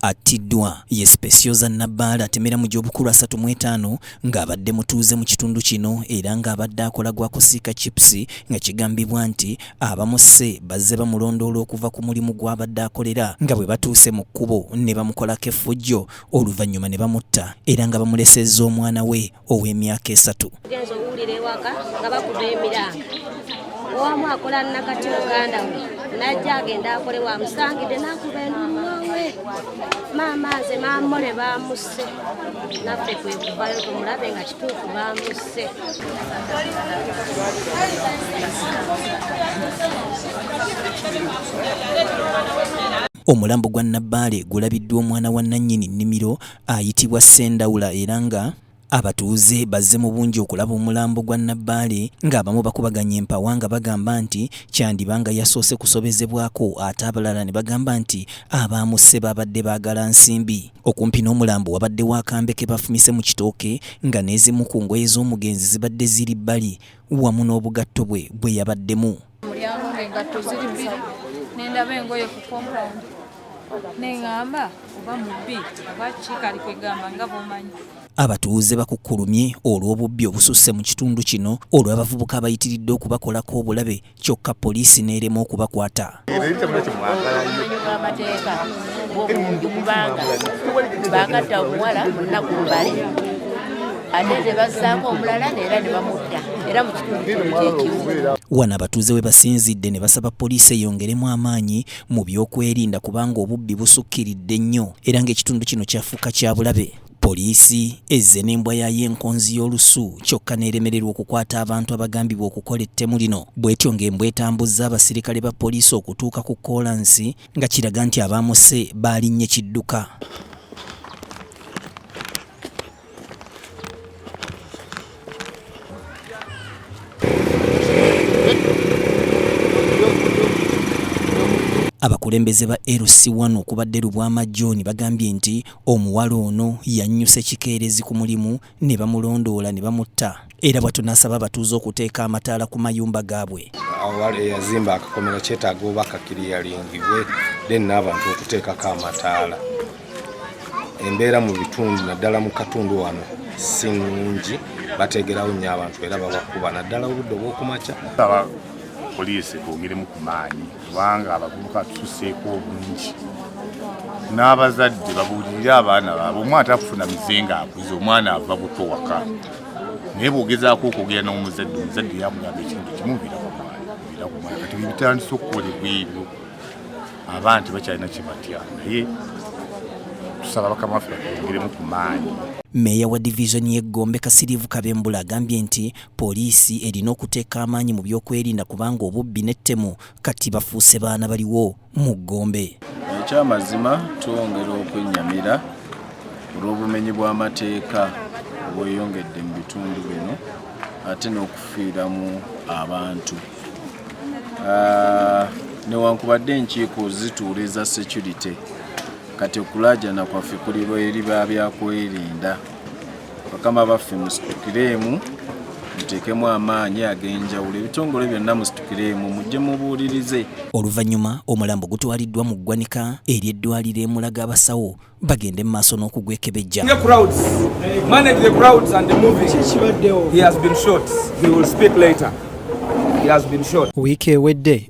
Attiddwa ye Specioza Nabbaale atemera mu gy'obukulu asatu mu etaano ng'abadde mutuuze mu kitundu kino era ng'abadde akola gwa kusiika chips nga kigambibwa nti abamusse bazze bamulondoola okuva ku mulimu gw'abadde akolera nga bwe batuuse mu kkubo ne bamukolako effujjo oluvannyuma ne bamutta era nga bamulesezza omwana we ow'emyaka esatu genza owulira ewaka nga bakuba emiranga owamu akola nakati muganda we najja agenda akole wamusangidde nakuba endumawe maama nze mamole bamusse naffe kwekuvayo tumulabe nga kituufu bamusse omulambo gwa nabbaale gulabiddwa omwana wa nannyini nnimiro ayitibwa Ssendawula era nga Abatuuze bazze mu bungi okulaba omulambo gwa Nabbaale ng'abamu bakubaganya empawa nga bagamba nti kyandiba nga yasoose kusobezebwako ate abalala ne bagamba nti abaamusse baabadde baagala nsimbi. Okumpi n'omulambo wabaddewo akambe ke bafumise mu kitooke nga n'ezimu ku ngoye z'omugenzi zibadde ziri bbali wamu n'obugatto bwe bwe yabaddemu. mulyango ng'engatto ziri bbiri nendaba engoye ku compound neŋamba oba mubbi oba kikali kwegamba nga bwomanyi abatuuze bakukkulumye olw'obubbi obususse mu kitundu kino olw'abavubuka abayitiridde okubakolako obulabe kyokka poliisi n'erema okubakwata bagatta omuwala munaku mbale ate ne bazzaako omulala neera ne bamudda era mu kitundu kyekimu wano abatuuze we basinzidde ne basaba poliisi eyongeremu amaanyi mu byokwerinda kubanga obubbi busukkiridde nnyo era ng'ekitundu kino kyafuuka kya bulabe poliisi ezze n'embwa yaayo enkonzi y'olusu kyokka n'eremererwa okukwata abantu abagambibwa okukola ettemu lino bw'etyo ng'embwa etambuzza abasirikale ba poliisi okutuuka ku koolansi nga kiraga nti abaamuse baalinnye kidduka Abakulembeze ba LC1 okubadde Lubwama John bagambye nti omuwala ono yannyuse kikeerezi ku mulimu ne bamulondoola ne bamutta. era bwatyo n'asaba abatuuze okuteeka amataala ku mayumba gaabwe awal eyazimba akakomero kyetaaga oba kakiriyalingibwe then n'abantu okuteekako amataala embeera mu bitundu naddala mu katundu wano si nungi bateegerawo nnyo abantu era babakuba naddala obudde obwokumakya poliisi kwongeremu ku maanyi kubanga abavubuka tususeeko obungi n'abazadde babuulirire abaana baabwe omwana tafuna mize ng'akuze omwana ava buto waka naye bwogezaako okwogera n'omuzadde omuzadde yamugamba ekintu kimu birakumala kati bibitandisa okukolebwa ebyo abaana tebakyalina kyebatya naye tusaba bakama waffe batongeremu ku maanyi meeya wa divizoni y'eggombe kasiriivu kabembula agambye nti poliisi erina okuteeka amaanyi mu byokwerinda kubanga obubbi n'ettemu kati bafuuse baana baliwo mu Gombe. Ekyamazima twongera okwennyamira olw'obumenyi bw'amateeka obweyongedde mu bitundu bino ate n'okufiiramu abantu ah, newankubadde enkiiko zituula eza security kati okulaajana kwaffe kuli eri ba byakwerinda bakama baffe musitukireemu muteekemu amaanyi ag'enjawulo ebitongole byonna musitukireemu mujje mubuulirize oluvannyuma omulambo gutwaliddwa mu ggwanika eri eddwaliro emulaga abasawo bagende mu maaso n'okugwekebejja wiiki ewedde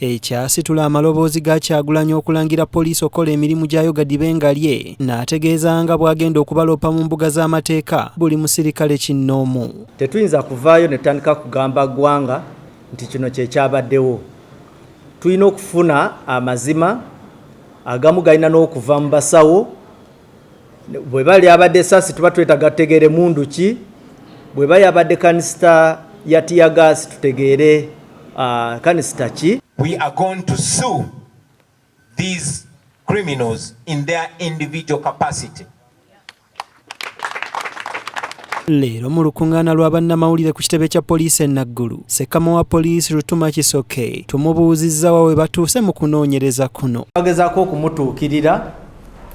ekyasitula amaloboozi ga Kyagulanyi okulangira poliisi okukola emirimu gyayo gadibe nga lye n'ategeeza nga bw'agenda okubaloopa mu mbuga z'amateeka buli musirikale kinnoomu. Tetuyinza kuvaayo ne tutandika kugamba ggwanga nti kino kye kyabaddewo. Tulina okufuna amazima, agamu galina n'okuva mu basawo bweba lyabadde esasi tuba twetaga tutegeere mundu ki bweba yabadde kanisita ya tiyagaasi tutegeere uh, kanisita ki we are going to sue these criminals in their individual capacity leero mu lukuŋŋaana lwa bannamawulire ku kitebe kya poliisi e naggulu sekama wa poliisi lutuma kisoke tumubuuzizza wa we batuuse mu kunoonyereza kuno bagezaako okumutuukirira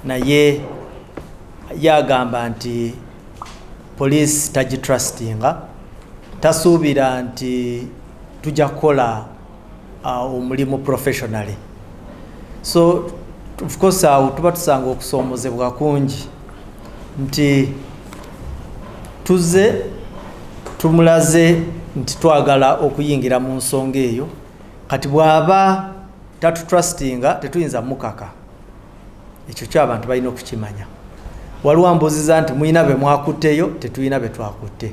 naye ye agamba nti poliisi tagitrustinga tasuubira nti tujja kukola uh, omulimu professionally so of course awo tuba tusanga okusoomozebwa kungi nti tuze tumulaze nti twagala okuyingira mu nsonga eyo kati bw'aba tatutrustinga tetuyinza mukaka ekyo kyo abantu balina okukimanya waliwo ambuziza nti mulina be mwakutteyo tetulina be twakutte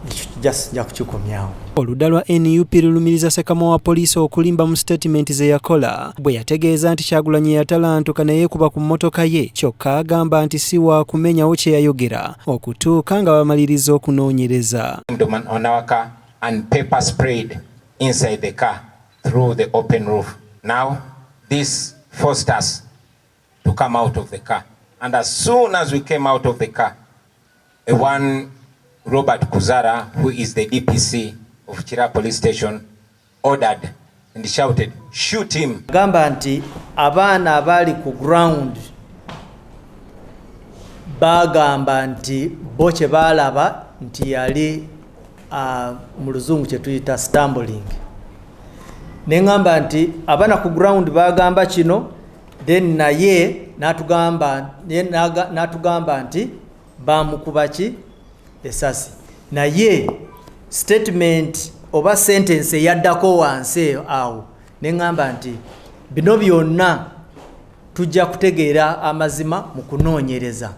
ekyo just nja kukikomyawo oludda lwa nup lulumiriza sekama wa poliisi okulimba mu sitatimenti ze yakola bwe yategeeza nti kyagulanyi yatalantuka naye kuba ku mmotoka ye kyokka agamba nti si wa kumenyawo kye yayogera okutuuka nga bamaliriza okunoonyereza through the open roof now this forced us to come out of the car and as soon as we came out of the car a one Robert Kuzara who is the DPC of Kira police station ordered and shouted shoot him gamba nti abaana abali ku ground bagamba nti bo kye balaba nti yali uh, mu luzungu kyetuyita stumbling neŋamba nti abana ku ground bagamba kino then naye natugamba natugamba nti bamukuba ki esasi naye statement oba sentence eyaddako wansi awo neŋamba nti bino byonna tujja kutegeera amazima mu kunoonyereza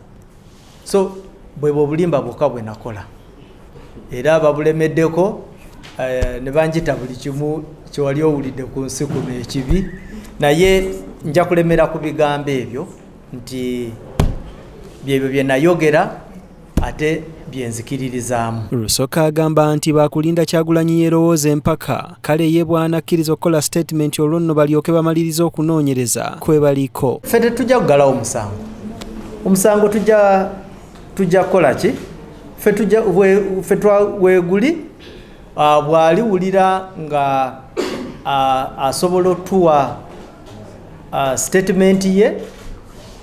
so bwebwe obulimba bwokka bwe nakola era babulemeddeko eh, ne banjita buli kimu kyewali owulidde ku nsi kuno ekibi naye nja kulemera ku bigambo ebyo nti byebyo bye nayogera ate byenzikiririzaamu. Rusoke agamba nti baakulinda Kyagulanyi yerowooze empaka kale ye bw'anakkiriza okukola sitatimenti olwo nno balyoke bamalirize okunoonyereza kwe baliko. Ffe tetujja kugalawo musango, omusango tujja tujja kukola ki ffe tujja ffe weeguli ah, bw'aliwulira nga ah, asobola otuwa ah, sitatimenti ye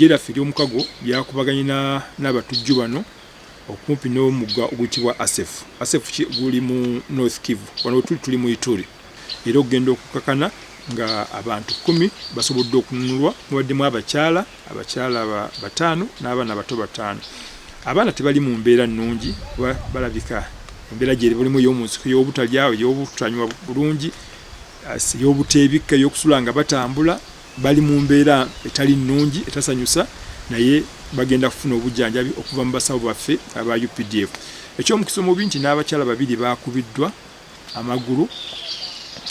eggye lyaffe ery'omukago lyakubaganye n'abatujju bano okumpi n'omugga oguyitibwa asefu asefu guli mu north kivu wano wetuli tuli mu ituri era okugenda okukakana nga abantu kumi basobodde okununulwa mubaddemu abakyala abakyala bataano n'abaana bato bataano abaana tebali mu mbeera nnungi kuba balabika embeera gyeri bulimu ey'omunsiko y'obutalya ey'obutanywa bulungi ey'obuteebikka ey'okusula nga batambula bali mu mbeera etali nnungi etasanyusa naye bagenda kufuna obujjanjabi okuva mu basawo baffe aba updf eky'omukisa omubi nti n'abakyala babiri baakubiddwa amagulu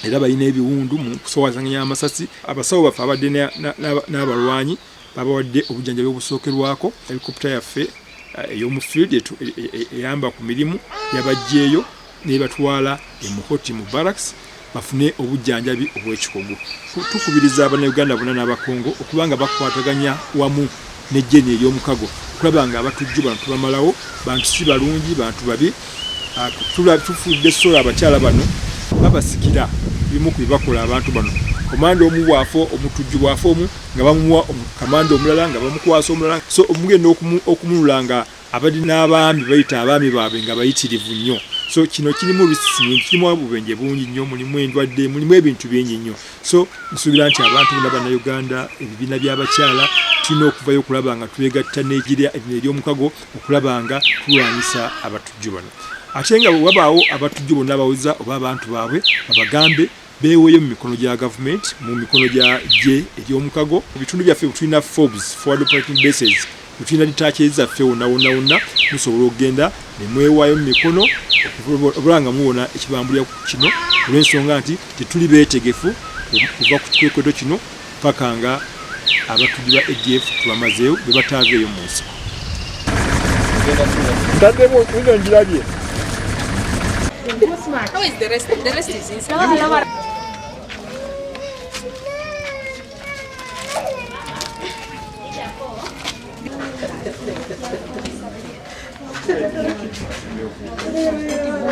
era balina ebiwundu mu kusowazanganya amasasi abasawo baffe abadde n'abalwanyi babawadde obujjanjabi obusookerwako helikopta yaffe eh, ey'omu field e, e, eyamba ku mirimu yabaggyeeyo nebatwala emuhoti mu barracks bafune obujjanjabi obw'ekikugu tukubiriza abanauganda bona n'abakongo okubanga bakwataganya wamu ne jeni eyomukago okulaba nga abatujju bano tubamalawo bantu si balungi bantu babi ah, tufudde sola abakyala bano babasikira bimu ku bibakola abantu bano komanda omu bwafa omutujju bwafa omu nga bamumuwa kamanda omulala nga bamukwasa omulala so omugenda okununula nga abadde n'abaami bayita abaami baabwe nga bayitirivu nnyo so kino kirimu risks nyingi kirimu obubenje bungi nnyo mulimu endwadde mulimu ebintu bingi nnyo so nsuubira nti abantu bona bannauganda ebibiina by'abakyala tulina okuvayo okulaba nga twegatta n'egira ebino ery'omukago okulaba nga tulwanyisa abatujju bano ate nga wabaawo abatujju bonna bawuza oba abantu baabwe babagambe beeweeyo mu mikono gya government mu mikono gya gye egy'omukago mu bitundu byaffe butulina fobs forward operating bases butulina ditaaki ezaffe wonna wonna wonna musobola okugenda ne mwewaayo mu mikono obula nga muwona ekibambulira kino olw'ensonga nti tetuli beetegefu okuva ku kikweketo kino paka nga abatujju ba ADF tubamazeewo bwe bataaveeyo mu nsiko. Ntaddemu nno ngirabye. Thank you.